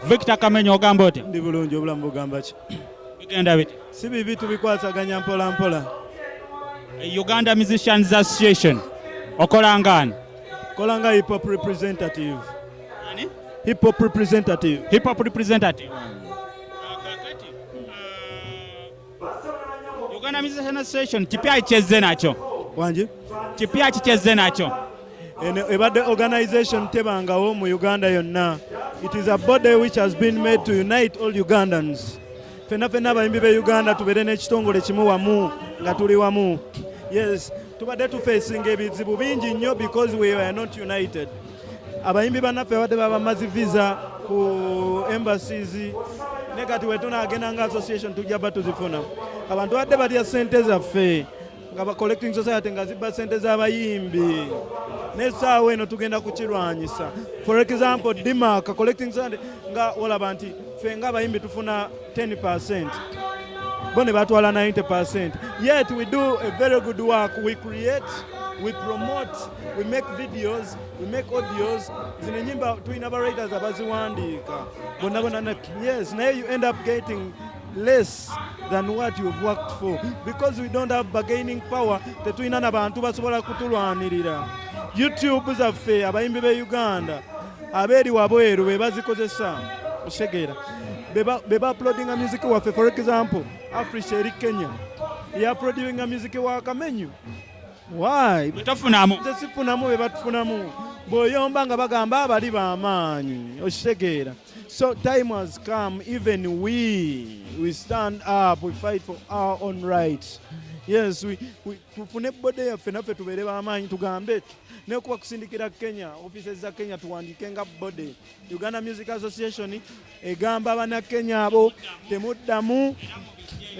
Victor Kamenyo ogamba otya? Ndi bulungi obulamu bugamba ki? Bigenda bite? Si bibi tubikwasaganya mpola mpola. Uganda Musicians Association okola ngani? Kola nga hip hop representative. Ani? Hip hop representative. Hip hop representative. Uganda Music Association kipya ichezze nakyo wangi kipya kichezze nakyo eno ebadde organization tebangawo mu uganda yonna it is a body which has been made to unite all ugandans fenna fenna abayimbi be uganda tubeere n'ekitongole kimu wamu nga tuli wamu yes tubadde tufeesinga ebizibu bingi nnyo because we are not united abayimbi banaffe abadde babamazi visa ku embassies ne kati wetunagenda nga association tujja ba tuzifuna abantu badde balya sente zaffe nga ba collecting society nga zibba sente z'abayimbi nesaawa eno tugenda kukirwanyisa for example dimark collecting society nga olaba nti fe nga abayimbi tufuna 10 percent bo ne batwala 90 percent yet we do a very good work we create we promote we make videos we make audios zino enyimba tulina ba writers abaziwandiika bonna bonna yes naye you end up getting less than what you've worked for because we don't have bargaining power tetulina na bantu basobola kutulwanirira youtube zaffe abayimbi be uganda abeeri wabweru be bazikozesa osegeera be baplodinga music waffe for example africa eri kenya yaplodinga music wa kamenyu Why? Betafunamu. Nze sifunamu be batufunamu. Boyomba nga bagamba abali ba maanyi. Okitegeera. So time has come even we we stand up we fight for our own rights. Yes, we, we tufune bode yaffe naffe tubeere ba maanyi tugambe ne kuba kusindikira Kenya offices za Kenya tuwandiike nga bode Uganda Music Association egamba bana Kenya abo temuddamu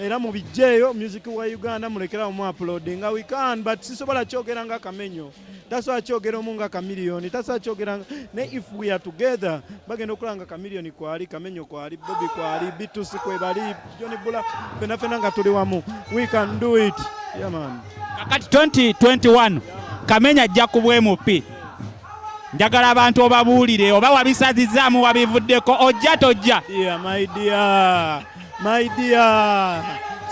era mu bijjeeyo music wa Uganda mulekerawo mu upload nga we can but sisobola kyogera nga kamenyo tasobola kyogera omu nga kamiliyoni tasobola kyogera ne if we are together bagenda okulaba nga kamiliyoni kwali kamenyo kwali bobi kwali bitusi kwebali joni bula fena fena nga tuli wamu we can do it yeah, man. kakati 2021 kamenya ajja ku bwemupi njagala abantu obabuulire oba wabisazizaamu wabivuddeko ojja tojja maidia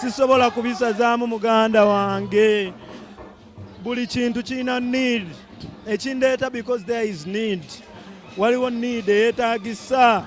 sisobola kubisazaamu muganda wange buli kintu kirina need ekindeeta because there is need waliwo need eyetagisa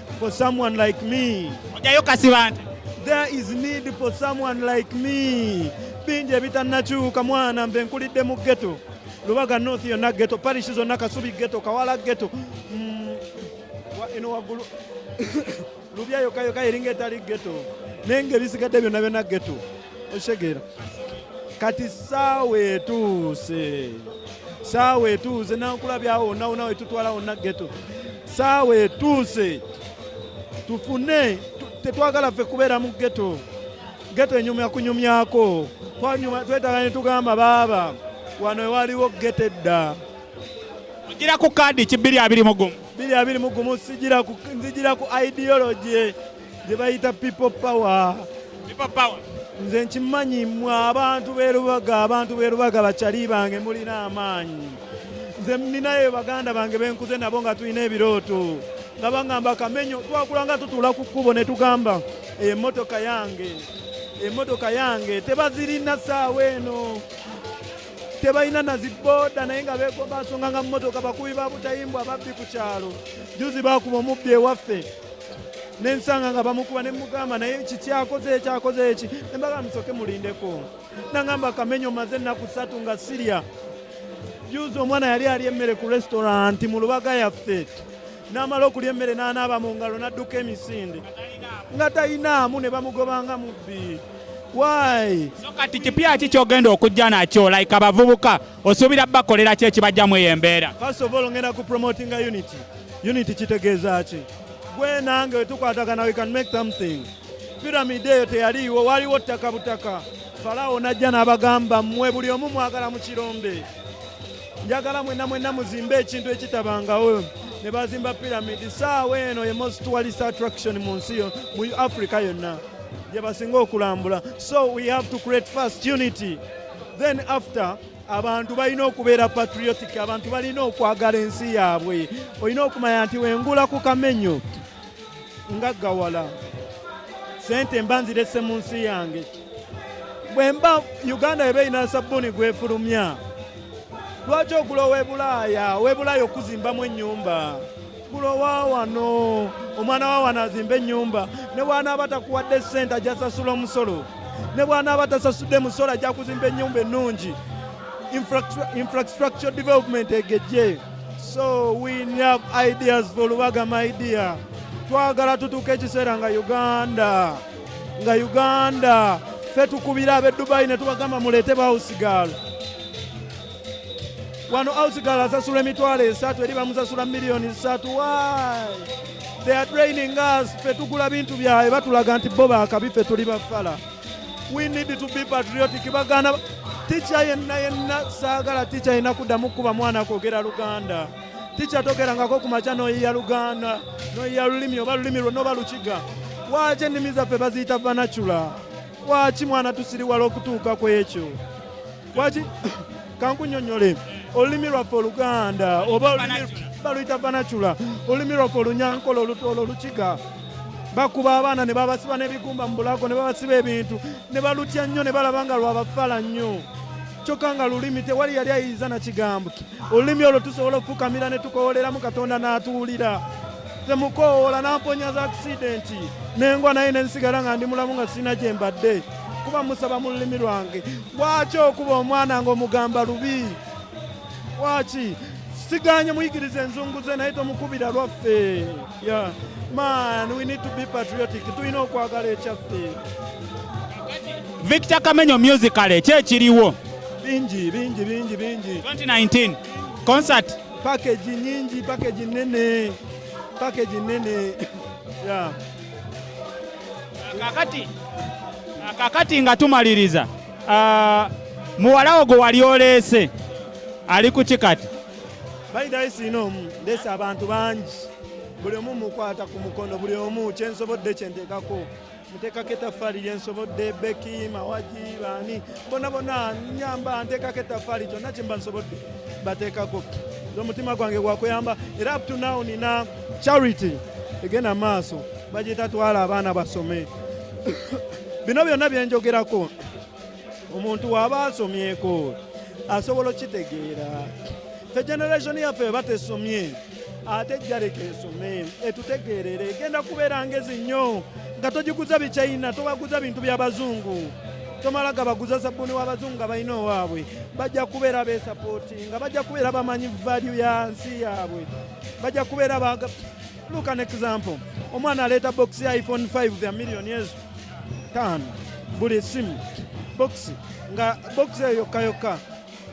for someone like me. Ojayo kasibante. There is need for someone like me. Bingi ebitannakyuka mwana mbe nkulidde mu ghetto. Lubaga North yonna ghetto, parish zonna Kasubi ghetto, Kawala ghetto. Mm, eno waggulu Lubya yokka yokka eringa etali ghetto. Naye ng'ebisigadde byonna byonna ghetto. okitegeera kati saawa etuuse saawa etuuse nankulabyawo wonna wonna wetutwala wonna geto saawa etuuse tufune tetwagala ffe kubeera mu geto geto enyumya kunyumyako twetaga netugamba baaba wano ewaliwo geto edda gira ku kaadi ki 221 221 sigira ku ideology gye bayita people power nze nkimanyi mwe abantu berubaga abantu berubaga bakyali bange mulina amaanyi nze ninayo baganda bange benkuze nabo nga tulina ebirooto nga bagamba kamenyo twakula nga tutuula ku kkubo ne tugamba emotoka yange emotoka yange tebazirina saawa eno tebalina na zibooda naye nga bekomba nsonga nga mumotoka bakubi ba butayimbwa ababbi ku kyalo juzi bakuba omubbi ewaffe nensanga nga bamukuba nemugamba naye kiki akoze eki akoze eki nembaga musoke mulindeko nangamba kamenyo maze ennaku satu nga sirya juzi omwana yali ali emmere ku restauranti mu lubaga yaffe namala okulya emmere nanaaba mu ngalo nadduka emisinde nga talinaamu ne bamugobanga mubbi wayi so kati kipya ki kyogenda okujja nakyo like abavubuka osuubira bakolera ki ekibajjamu eyo embeera first of all ngenda ku promoting a unity unity kitegeeza ki gwe nange wetukwatagana we can make something piramidi eyo teyaliiwo waliwo ttaka butaka falaawo najja n'abagamba mmwe buli omu mwagala mu kirombe njagala mwenna mwenna muzimbe ekintu ekitabangawo ne bazimba piramidi saawa eno ye most tourist attraction mu nsi yo mu africa yonna gye basinga okulambula so we have to create first unity then after abantu balina okubeera patriotic abantu balina okwagala ensi yaabwe olina okumanya nti wengula ku kamenyo nga gawala sente mba nzirese mu nsi yange bwemba uganda eba erina sabbuuni gwefulumya lwaki ogula owebulaaya owebulaaya okuzimbamu ennyumba kulo wa wano omwana wa wano azimba ennyumba ne bwanaaba takuwadde ssente ajja sasula omusolo ne bwanaaba tasasudde musolo ajja kuzimba ennyumba ennungi infrastructure development egejje so we have ideas for lubaga my dear twagala tutuuka ekiseera nga uganda nga uganda fe tukubira ab'e dubayi ne tubagamba muleete bawusigaalo wano ausigala asasula emitwalo esatu eri bamusasula miliyoni satu why they are draining us ffe tugula bintu byabwe batulaga nti bo bakabi ffe tuli bafala we need to be patriotic bagana tica yenna yenna saagala tica yenna kuddamu kukuba mwana kwogera luganda tica togerangako ku makya noyiya luganda noyiya lulimi oba lulimi lwonna oba lukiga waaki ennimi zaffe baziyita vanacula waaki mwana tusiriwala okutuuka ku ekyo Waki kankunyonyole olulimi lwaffe oluganda oba baluyita banacula olulimi lwaffe olunyankole olutoolo olukiga bakuba abaana ne babasiba n'ebigumba mu bulago ne babasiba ebintu ne balutya nnyo ne balaba nga lwabafala nnyo kyokka nga lulimi tewali yali ayinza na kigambo olulimi olwo tusobola okufukamira ne tukowoleramu katonda n'atuwulira temukowoola namponya za akisidenti nengwa naye nensigala nga ndi mulamu nga sirina gye mbadde kuba musaba mu lulimi lwange Lwaki okuba omwana ng'omugamba lubi? Lwaki siganye muyigiriza enzungu ze naye tomukubira lwaffe. Yeah. Man, we need to be patriotic. Tulina okwagala ekyaffe. Victor Kamenyo musically kye kiriwo bingi bingi bingi bingi 2019 concert package nyingi package nene package nene yeah kakati kakati nga tumaliriza ah, muwalawo gwe wali oleese ali ku kikati bayidayisiina omu ndeese abantu bangi buli omu mukwata ku mukono buli omu kyensobodde kyenteekako nteekako etaffaali lyensobodde beki mawagi baani bona bona nyamba nteekako etaffaali kyonna kyemba nsobodde bateekako omutima gwange gwakuyamba era up to now nina charity egenda maaso bagiyita twala abaana basome bino byonna byenjogerako omuntu waba asomyeko asobola okitegeera fe generation yaffe eba tesomye ate jaleka esome etutegeerera egenda kubeera ngezi nnyo nga togiguza bichina tobaguza bintu byabazungu tomala gabaguza sabuni wabazungu nga balina owaabwe bajja kubeera besapooti nga bajja kubeera bamanyi valyu ya nsi yaabwe bajja kubeera baga look an example omwana aleeta box ya iphone 5 the million yezu taano buli simu box nga box eyo yokka yokka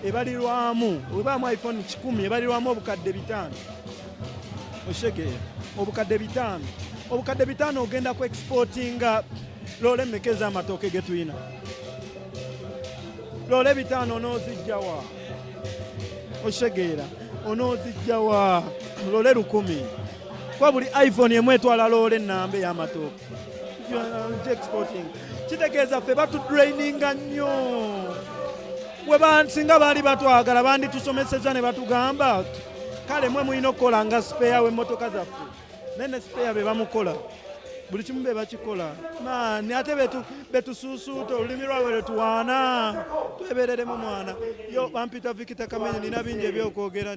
ebalirwamu webaamu iphone kikumi ebalirwamu obukadde bitaano oshege obukadde bitaano obukadde bitaano ogenda ku exportinga loole mmeka ez'amatooke ge tulina loole bitaano n'ozijjawa okitegeera onozijja wa lole lukumi kuba buli iphone emu etwala loola ennamba ey'amatooke exporting kitegeeza ffe batudraininga nnyo webansinga baali batwagala banditusomeseza ne batugamba kale mwe mulina okukola nga sipeya w'emmotoka zaffe naye ne sipeya be bamukola buli kimu be bakikola maani ate betusuusuuta olulimi lwabwe lwetuwaana twebereremu mwana yo bampita vikita kamenyi nina bingi ebyokwogera